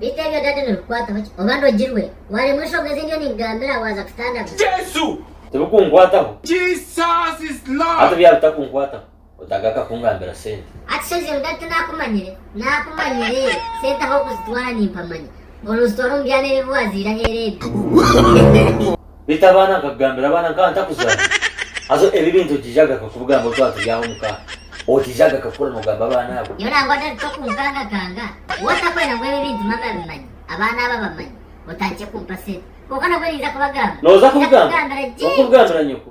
Beitu ebyo daddy nibikukwataho ki oba ndogirwe? Waremwa enshonga ezindi yo ninkugambira waza kutandagura. Tibikunkwataho hati byaba bitakunkwataho otagaruka kungambira sente. Akishegye ngu daddy tinakumanyire. Nakumanyire sente ah'okuzitwara nimpamanya. Oruzitwara omu byana ebibi waziira aheeru ebyo. beitu abaana nkakugambira abaana nkaba ntakuzara haza ebi ebintu okiija agaruka kubigamba twaba turi aho omuka okiija agaruka kukora nogamba abaana abo. Nyowe nangwa David tokunkangakanga waaba otakwenda ngu ebi ebintu mami abimanye abaana abo abamanye otandikye kumpa sente kwonka nabwo ninza kubagamba Noza kubigamba okubigambira nyoko.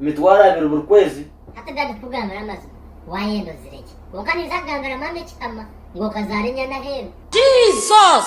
emitwaro abiri buri kwezi. Hati dadi kukugambira amazima wayenda ozire gye kwonka ninza kugambira mama ekihama ngu okazaara enyana aheeru. Jesus.